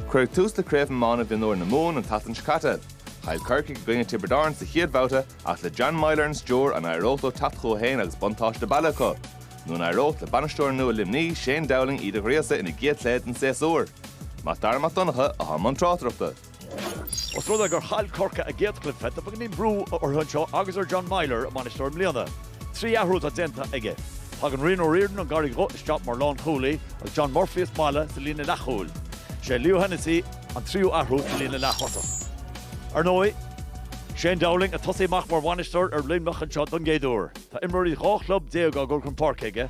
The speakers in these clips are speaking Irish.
Cuireadh tús le Craobh Iomána Mhionúir na Mumhan an tseachtain seo caite. Chaill Corcaigh i gcoinne Tiobraid Árann sa chéad bhabhta ach le John Meyler ar an stiúir an éireodh leo teacht chucu féin agus buntáiste baile acu? Nó an éireodh le bainisteoir nua Luimní, Shane Dowling iad a ghríosadh ina gcéad chluiche den séasúr? Mac Dara Mac Donncha, a bhí i mbun tráchtaireachta. Os rud é gur chaill Corcaigh a gcéad chluiche, tá beagainín brú orthu anseo agus ar John Meyler, a mbainisteoir i mbliana. Trí athrú atá déanta aige. Tagann Rian O'Riordan ón gCarraig Dhubh isteach mar lánchúlaí agus John Murphy as Mala sa líne leathchúil. Is é Leo Hennessy an tríú athrú sa líne leath-thosach. Ar ndóigh, Shane Dowling ag tosaí amach mar bhainisteoir ar Luimneach anseo don gcéad uair. Tá imreoirí dhá chlub déag á gcur chun páirce aige,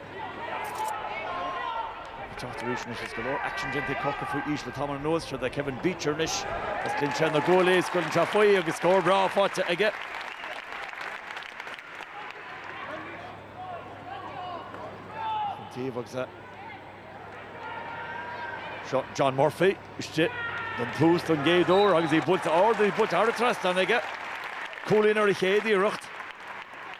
Ag teacht arís anois is go leor aicsin déanta ag Corcaigh faoi aois le tamall anuas. Seo do Kevin Beecher anois. Ísleann sé na guaillí ag gabháil chun tabhairt faoi agus scór breá faighte aige. Chun taobh agus é. Seo John Murphy istigh don tús don gcéad uair agus í buailte ard agus í buailte thar an trasnán aige. Cúilín ar a chéad iarracht.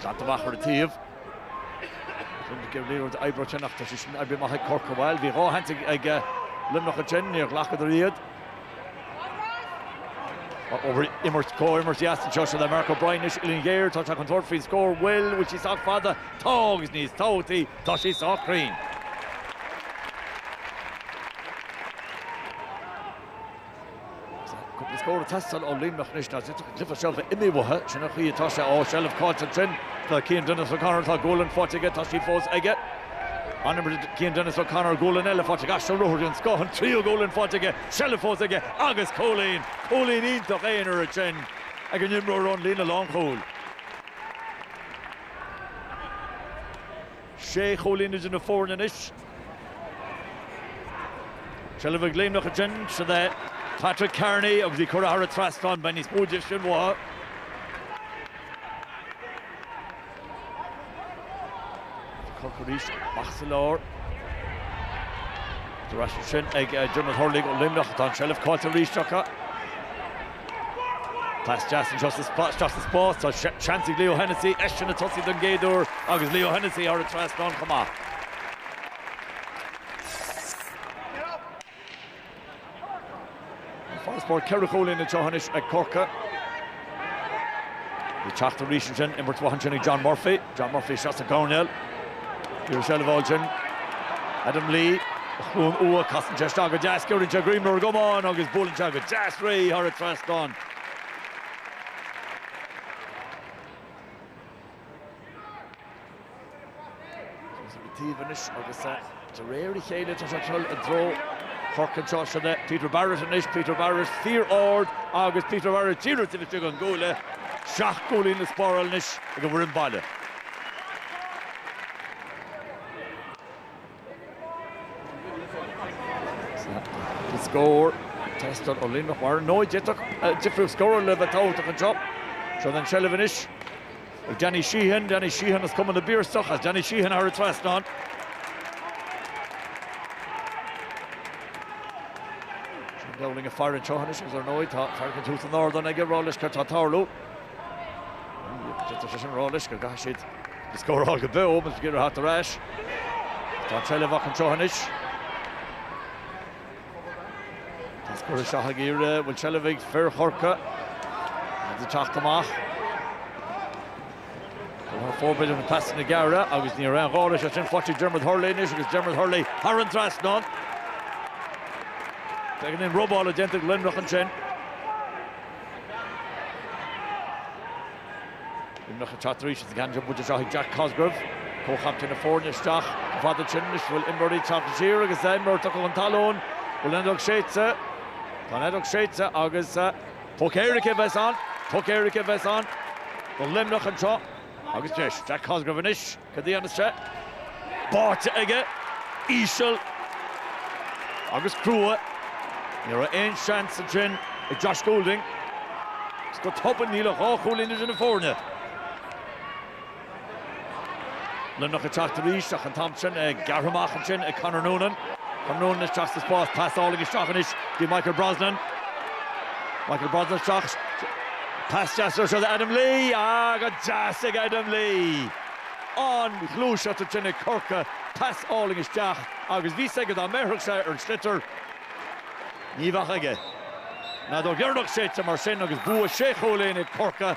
Slat amach ar an taobh. Roinnt le bheith oibre ansin ach tá sé sin oibrithe amach ag Corcaigh, bhuel. Bhí dhá shans ag Luimneach ansin, níor ghlacadar iad. Imirt, comhimirt dheas anseo seo é Marc O'Brien anois, uillinn ghéar, tá sé chun tabhairt faoin scór, bhuel, bhfuil sí sách fada? Tá, agus níos tábhachtaí, tá sí sách cruinn. Cúpla scór ag teastáil ó Luimneach anois, nó tá an cluiche seo ag imeacht uathu, sin an chaoi atá sé. Ó, seilbh caillte ansin do Cian Denis O'Connor, tá gualainn faighte aige, tá sí fós aige. An-imirt Cian Denis O'Connor, gualainn eile faighte aige, is ruathar den scoth, an tríú gualainn faighte aige, seilbh fós aige agus cúilín, cúilín iontach aonair ansin ag an imreoir ón líne lánchúil. Sé chúilín idir na foirne anois. Seilbh ag Luimneach ansin, seo é. Patrick Kearney agus í curtha thar an trasnán, beidh níos mó de sin uathu. Corcaigh arís amach sa lár. Treise ansin ag Diarmuid Hurley ó Luimneach tá an seilbh caillte arís acu. Pas deas anseo sa spás. Tá seans ag Leo Hennessy eisean ag tosaí don gcéad uair agus Leo Hennessy thar an trasnán chomh maith. An farasbarr ceithre chúilín anseo anois ag Corcaigh. Ag teacht arís ansin, imirt mhaith ansin ag John Murphy. John Murphy isteach sa gcoirnéal. Iarracht seilbh a fháil ansin. Adam Lee, ag cúnamh uaidh, casann sé isteach go deas, giorann sé greim ar an gcamán agus buaileann sé go deas réidh thar an trasnán. Taobh anois agus De réir a chéile tá sé ag dul i dtreo Chorcaí anseo. Sin é Peter Barrett anois, Peter Barrett fíor ard agus Peter Barrett díreach taobh istigh den gcuaille. Seacht gcúilín le spáráil anois ag an bhfoireann baile. Tá scór ag teastáil ó Luimneach mar ar ndóigh d'fhéadfadh difríocht scórála a bheith tábhachtach anseo. Seo an tseilbh anois. Ag Danny Sheehan, Danny Sheehan as Cumann na bPiarsach, is Danny Sheehan thar an trasnán. Shane Dowling ag faire anseo anois agus ar ndóigh tá fear eicínt thuas san ardán aige ag rá leis céard tá ag tarlú. Tá sé sin ag rá leis go gcaithfidh siad an scór a fháil go beo, más féidir theacht ar ais. Tá an tseilbh acu anseo anois. Tá scór ag teastáil go géar. Bhfuil seilbh ag fir Chorcaí? Iad ag teacht amach. Thar fóir, b'fhéidir, na pasanna gearra agus ní raibh aon ghá leis ansin, faighte ag Dermot Hurley anois agus Dermot Hurley thar an trasnán. Beagán robála déanta ag Luimneach ansin. Luimneach ag teacht arís is an ceann buaite anseo ag Jack Cosgrove, comhchaptaen na foirne, isteach. Ceann fada ansin anois bhfuil imreoirí taobh thiar agus imreoir tugtha chun talún. Bhfuil an fheadóg séidte? Tá an fheadóg séidte agus poc éirice a bheas ann. Poc éirice a bheas ann do Luimneach anseo agus deis. Jack Cosgrove anois. Cad a dhéanfas sé? Báite aige, íseal agus crua. Ní raibh aon seans ansin ag Josh Goulding. Agus go tobann níl ach dhá chúilín idir na foirne. Luimneach ag teacht arís ach an t-am sin gearrtha amach ansin ag Conor Noonan. Conor Noonan isteach sa spás, pas álainn isteach anois go dtí Michael Brosnan. Michael Brosnan isteach. Pas deas anseo do Adam Lee. Ah go deas ag Adam Lee! An-ghluaiseacht ansin ag Corcaigh, pas álainn isteach agus bhí 's aige dá mbéarfadh sé ar an sliotar ní bheadh aige. An fheadóg dheireanach séidte mar sin agus bua sé chúilín ag Corcaigh.